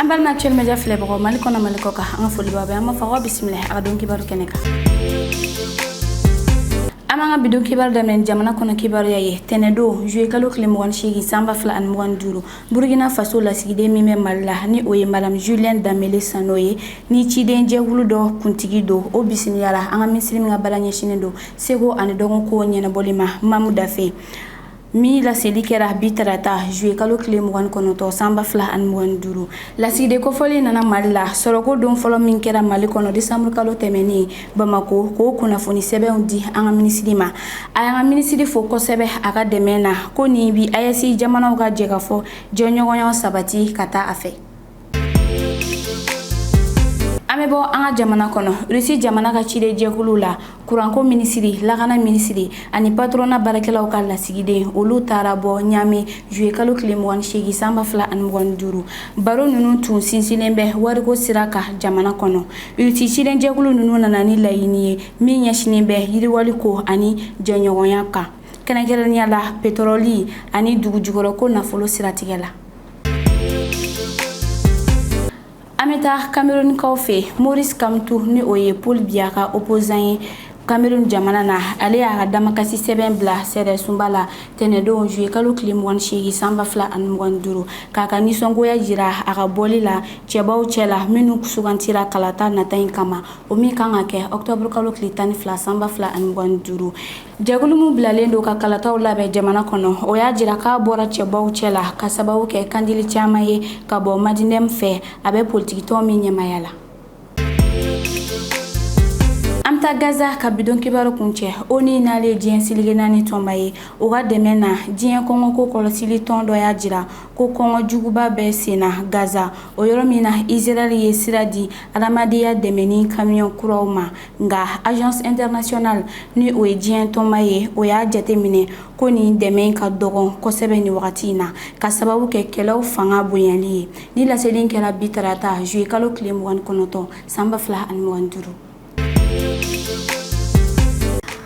an balima Actuel Media filɛbagaw mali kɔnɔ mali kɔkan an ka foli b'aw bɛɛ an b'a fɔ aw bisimila a ka don kibaru kɛnɛ kan an b'an ka bidon kibaru daminɛ jamana kɔnɔ kibaruya ye tɛnɛdon juillet kalo tile mugan ni seegin san ba fila ani mugan ni duuru burukina faso lasigiden min bɛ mali la ni o ye madame Julienne Dembélé Sanon ye ni ciden jɛkulu dɔ kuntigi don o bisimilala an ka minisiri min ka baara ɲɛsinnen don seko ani dɔnko ɲɛnabɔli ma Mamou Daffé Nin laseli kɛra bi tarata juillet kalo tile mugan ni kɔnɔntɔn san ba fila ani mugan ni duuru lasigiden kofɔlen nana mali la sɔrɔko don fɔlɔ min kɛra mali kɔnɔ desanburu kalo tɛmɛnen bamakɔ k'o kunnafoni sɛbɛnw di an ka minisiri ma a y'an ka minisiri fo kosɛbɛ a ka dɛmɛ na ko nin bi AES jamanaw ka jɛkafɔ jɛɲɔgɔnya sabati ka taa a fɛ an bɛ bɔ an ka jamana kɔnɔ rusi jamana ka ciden jɛkulu la kuranko minisiri lakana minisiri ani patronat baarakɛlaw ka lasigiden olu taara bɔ Niamey juillet kalo tile mugan ni seegin san ba fila ani mugan ni duuru baro ninnu tun sinsinnen bɛ wariko sira kan jamana kɔnɔ rusi ciden jɛkulu ninnu nana ni laɲini ye min ɲɛsinnen bɛ yiriwali ko ani jɛɲɔgɔnya kan kɛrɛnkɛrɛnnenya la petɔrɔli ani dugujukɔrɔko nafolo siratigɛ la An bɛ taa Camerounkaw fɛ Maurice Kamto ni o ye Paul Biya ka opposant ye Cameroun jamana na ale y'a ka damakasi sɛbɛn bila sariyasunba la tɛnɛndon juillet kalo tile mugan ni seegin san ba fila ani mugan ni duuru k'a ka nisɔngoya jira a ka bɔli la cɛbaw cɛ la minnu sugantira kalata nata in kama o min kan ka kɛ ɔkutɔburukalo tile tan ni fila san ba fila ani mugan ni duuru Jɛkulu min bilalen don ka kalataw labɛn jamana kɔnɔ o y'a jira k'a bɔra cɛbaw cɛ la ka sababu kɛ kandili caman ye ka bɔ Manidem fɛ a bɛ politikitɔn min ɲɛmaya la an bɛ taa Gaza ka bidon kibaru kuncɛ ONU n'ale diɲɛ seleke naani tɔnba ye o ka dɛmɛ na diɲɛ kɔngɔko kɔlɔsili tɔn dɔ y'a jira ko kɔngɔ juguba bɛ senna Gaza o yɔrɔ min na Israël ye sira di adamadenya dɛmɛni kamiyɔn kuraw ma nka agence internationale ni o ye diɲɛ tɔnba ye, o y'a jateminɛ ko nin dɛmɛn in ka dɔgɔn kosɛbɛ nin wagati in na, ka sababu kɛ kɛlɛw fanga bonyali ye. Nin laseli in kɛra bi tarata juillet kalo tile 29 san 2025.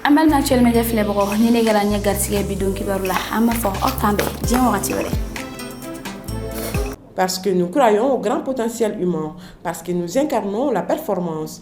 An balima Actuel Media filɛbagaw, nin de kɛra an ɲɛ garisigɛ bi don kibaru la, an b'a fɔ aw k'an bɛn diɲɛ wagati wɛrɛ. Parce que nous croyons au grand potentiel humain, parce que nous incarnons la performance.